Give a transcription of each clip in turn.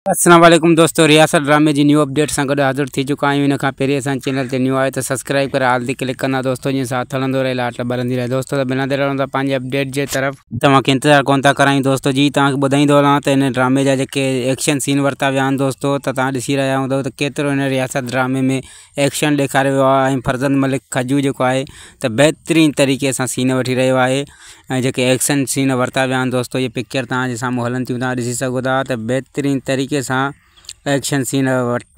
السلام عليڪم دوستو رياست ڊرامي جي نيو اپڊيٽ سان گڏ حاضر ٿي چڪا آهيون ان کان پهرين اسان چينل تي نيو آهيو ته سبسڪرائيب ڪري آل تي ڪلڪ ڪندا دوستو جيئن ساٿ هلندو رهي لاٽ ٻرندي رهي دوستو ته بنا دير هلون ٿا پنهنجي اپڊيٽ جي طرف توهان کي انتظار ڪونه ٿا ڪرايون دوستو جي توهان کي ٻڌائيندو هلان ته هن ڊرامي جا جيڪي ايڪشن سين ورتا ويا آهن دوستو ته توهان ڏسي رهيا هوندؤ ته ڪيترو هن رياست ڊرامي ۾ ايڪشن ڏيکاريو ويو آهي ۽ فرزند ملڪ کجو جيڪو آهي ته بهترين طريقي سان سين وٺي رهيو آهي ۽ جيڪي ايڪشن سين ورتا ويا آهن دوستو اهي پڪچر توهان جي سامهون هلن ٿيون توهان ڏسي سگهو ٿا ته بهترين طريقي سان ايڪشن سين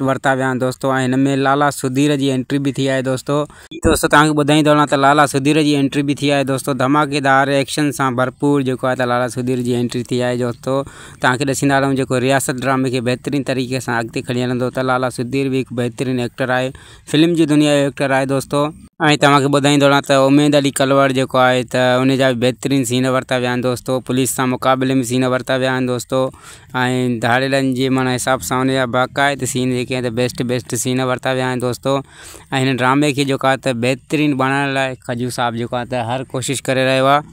ورتا ويا آهن دوستو ۽ هن ۾ لالا سڌير جي انٽري به ٿي آهي دوستو جي دوستو توهان کي ٻڌائيندو هلان ته لالا سڌير جي انٽري به ٿي آهي دوستو ڌماڪيدار ايڪشن سان ڀرپور جيڪو آهي ته لالا سڌير جي انٽري ٿي آهي دوستو توهان کي ڏسيندا رهون جيڪو رياست ڊرامي کي بهترين طريقي سان اڳتي کڻي هلندو ته لالا سڌير به هڪ بهترين ايڪٽر آهي فلم جي دنيا جو ايڪٽر آهي دوستو. ۽ توهان کي ٻڌائيندو رهان ته اميد علي ڪلوڙ جيڪو آهي ته ان جا به بهترين سين ورتا ويا آهن دوستو پوليس سان مقابلي ۾ سين ورتا ويا آهن دوستو ۽ ڌاڙيلن جي معنيٰ حساب سان ان جا باقاعده سين جيڪي آهن ته بيسٽ بيسٽ سين ورتا ويا آهن دوستو ۽ هن ڊرامي کي جيڪو آهي ته بهترين بڻائڻ لاء کجو صاحب جيڪو آهي ته هر ڪوشش ڪري رهيو آهي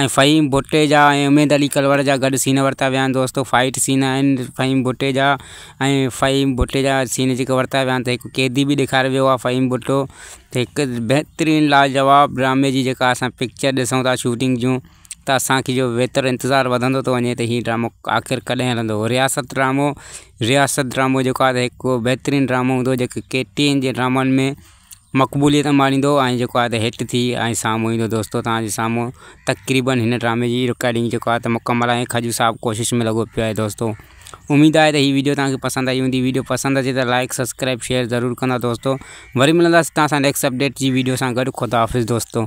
۽ فهيم ڀٽي جا ۽ اميد علي ڪلوڙ جا گڏ سين ورتا ويا آهن دوستو فائيٽ سين آهن فهيم ڀٽي جا ۽ فهيم ڀٽي جا سين جيڪي ورتا ويا آهن ته هڪ قيدي به ڏيکاريو ويو آهي فهيم ڀٽو ته هڪ بهترين لاجواب ڊرامي جي جيڪا اسان پڪچر ڏسون ٿا شوٽنگ جون ته اسانکي جو ويتر انتظار وڌندو ٿو وڃي ته هي ڊرامو آخر ڪڏهن هلندو رياست ڊرامو رياست ڊرامو جيڪو آهي ته هڪ بهترين ڊرامو هوندو جيڪو ڪي ٽي وي جي ڊرامن ۾ مقبوليت انباڻيندو ۽ جيڪو آهي ته هيٺ ٿي ۽ سامهون ايندو دوستو توهان جي سامهون تقريبن هن ڊرامي جي رڪارڊنگ جيڪو آهي ته مڪمل آهي خجو صاحب ڪوشش ۾ لڳو پيو آهي دوستو اميد آهي ته هي ويڊيو توهان کي پسند آئي هوندي ويڊيو پسند اچي ته لائڪ سبسڪرائب شيئر ضرور ڪندا دوستو وري ملنداسين توهان سان نيڪسٽ اپڊيٽ جي ويڊيو سان گڏ خدا حافظ دوستو